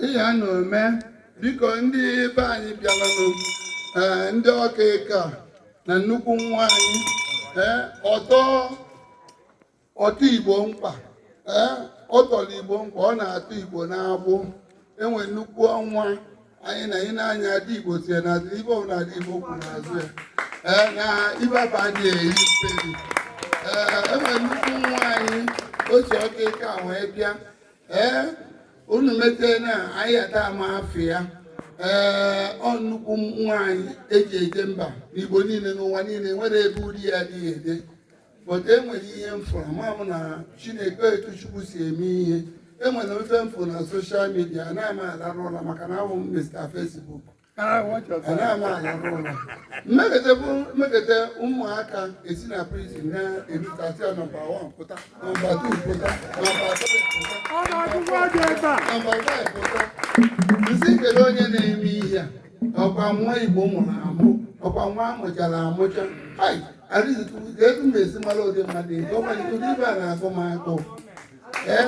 ihe a na-eme biko ndị be anyị bịaranụ ndị ọka ịka na nnukwu nwaanyị ọtọ ọtọ igbo mkpa ọ tọrọ igbo mkpa ọ na-atọ igbo n'agbụ enwe nnukwu nwa anyị na ị na-anya Ada Igbo tie na adị ibe ọbụla Ada Igbo kwụ n'azụ ya ee na ibaba adị eyi mperi ee enwere nnukwu nwaanyị otu ọka ike a wee bịa ee unu metee na anyị ada ama afịa ee ọ nnukwu nwaanyị eji eje mba n'igbo niile n'ụwa niile nwere ebe ude ya adịghị ede but enwere ihe m fụrụ ama m na Chineke etu Chukwu si eme ihe enwere ife m fụrụ na soshal midia anaghị m alarụ ụla maka na abụ m Mr. Facebook anaghị m alarụ ụla mmegide bụ mmegide ụmụaka esi na prizin na-erutasi ya nọmba 1 pụta nọmba 2 pụta nọmba 3 pụta nọmba 5 pụta m sị kedu onye na-eme ihe a ọkwa nwa igbo mụrụ amụ ọkwa nwa amụchara amụcha ai arịzikwu ka etu m esi mara ụdị mmadụ ezi ọkwa gị ụdị ibe a na-agụ m agụụ ee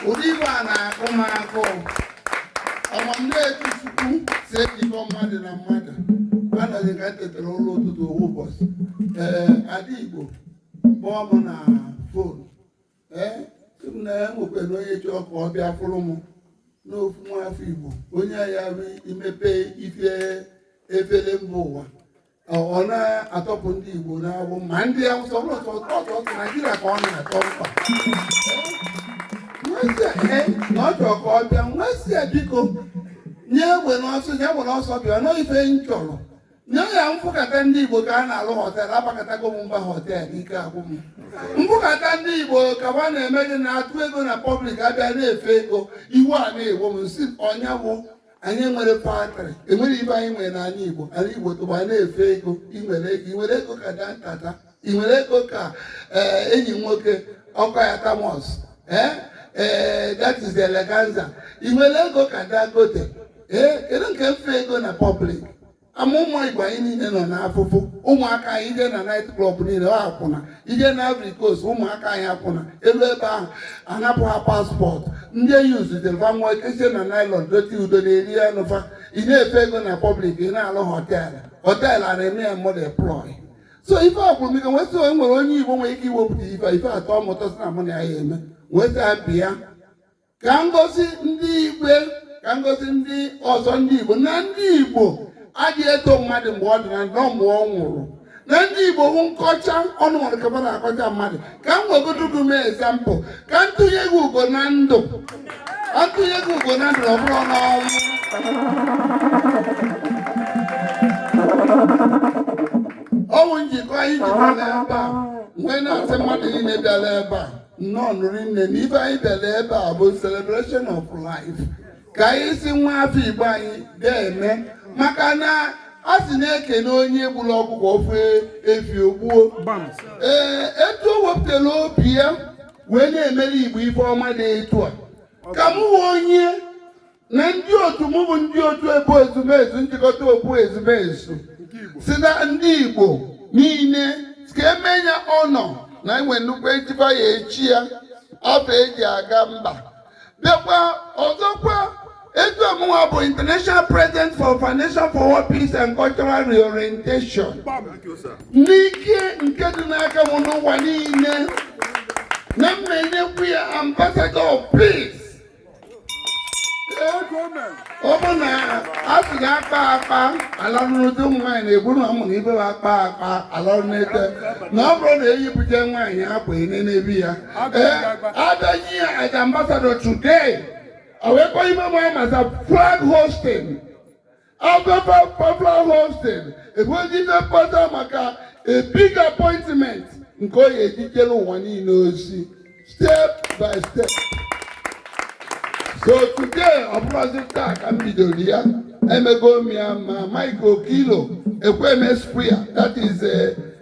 ụdị ibe a na-agụ m agụụ ama m na etu chukwu si ejikọ mmadụ na mmadụ anaghị ka m tetara ụla ụtụtụ ofu ụbọchị ee ada igbo kpọọ m na ee sị m na ya nwekwara onye chọọ ka ọ bịa fụrụ m na ofu nwaafọ igbo onye ya bụ imepe ife efere mba ụwa ọ ọ na-atọpụ ndị igbo n'agbụ ma ndị awụsa ọ bụrụ ọtọ ọtọ ọtọ naijiria ka ọ na-atọ mkpa wee sị ee na ọ chọrọ ka ọ bịa m wee sị ya biko nye egbe n'ọsọ nye egbe n'ọsọ bịa na ọ bụ ife m chọrọ Nye ya m fụkata ndị Igbo ka a na-alụ họtel abakatago m mba họtel ike agwụ m m fụkata ndị Igbo ka wa na-eme gị na-atụ ego na pọblik abịa na-efe ego iwe a na-egbu m sị ọ ya bụ anyị nwere faktrị enwere ibe anyị nwere n'ala Igbo ala Igbo tọgbọ na-efe ego i nwere ego i nwere ego ka Dantata i nwere ego ka eh, enyi nwoke Okoya Thomas ee eh, ee eh, that is the Eleganza i nwere ego ka Dangote ee kedu nke mfe ego na pọblik ma ụmụ igbo anyị niile nọ n'afụfụ ụmụaka anyị i jee na nait klọb niile ọ akwụna i jee na Ivory Coast ụmụaka anyị akwụna eju ebe ahụ anapụ ha paspọtụ ndị eyi zutelụ va nwa ekesie na nailon dote udo na-eri ya nụfa ị na-efe ego na pọblik ị na-alụ họteelụ họteelụ a na-eme ya mmadụ employ so ife a gwụrụ m ike m wee sị o nwere onye igbo nwere ike iwepụta ife ife atọ m ụtọ sị na mụ na ya eme m wee sị ya bịa ka m gosi ndị igwe ka m gosi ndị ọzọ ndị igbo na ndị igbo adị eto mmadụ mgbe ọ dị na ndụ mgbe ọ nwụrụ na ndị igbo bụ nkọcha ọnụ nwere ka mmadụ akọcha mmadụ ka m wegodo gị mee ezampụ ka m tụnye gị ugo na ndụ ka m tụnye gị ugo na ndụ na ọ bụrụ n'ọnwụ ọnwụ njikọ anyị jikọrọ ebe a m wee na-asị mmadụ niile bịara ebe a nnọọnụ rinne na ife anyị bịara ebe a bụ celebration of life ka anyị si nwa afọ igbo anyị ga-eme maka na a sị na e kene onye gburu ọkụkọ ọ fụ efi o gbuo ee etu o wepụtara obi ya wee na-emere igbo ife ọma dị etu a ka m hụ onye na ndị otu mụ bụ ndị otu ebo ezumezu njikọta okwu ezumezu si na ndị Igbo niile ka emenye ya ọnọ na enwe nnukwu ejiba ya echie ya afọ eji aga mba bịakwa ọzọkwa etu ọ mụnwa bụ international president for foundation for peace and cultural reorientation n'ike nke dị n'aka m n'ụwa niile na m menyekwu ya ambassador of peace ọ bụ na a sị ka akpa akpa alalụ n'ute ụmụ nwaanyị na-egbu na ụmụ na ibe ha akpa akpa alalụ n'ute na ọ bụrụ na eyipụta nwaanyị akwa ene n'ebi ya ee abịaghị ya as ambassador today ọ wee kpọọ ime nwaanyị masa flag hoisting after flag hoisting ewejide mkpata maka a big appointment nke ọ ga-eji jeere ụwa niile ozi step by step so today ọ bụrọzi taa ka m bidoro ya emego m ya ma Mike Okilo Ekwueme square that is a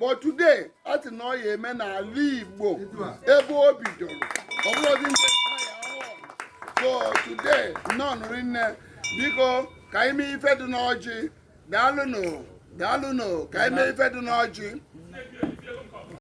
but today a sị na ọ ya eme n'ala Igbo ebe o bidoro ọ bụrụzi ndị so today nnọọnụ rinne biko ka anyị mee ife dị n'ọjị daalụnụ daalụnụ ka anyị mee ife dị n'ọjị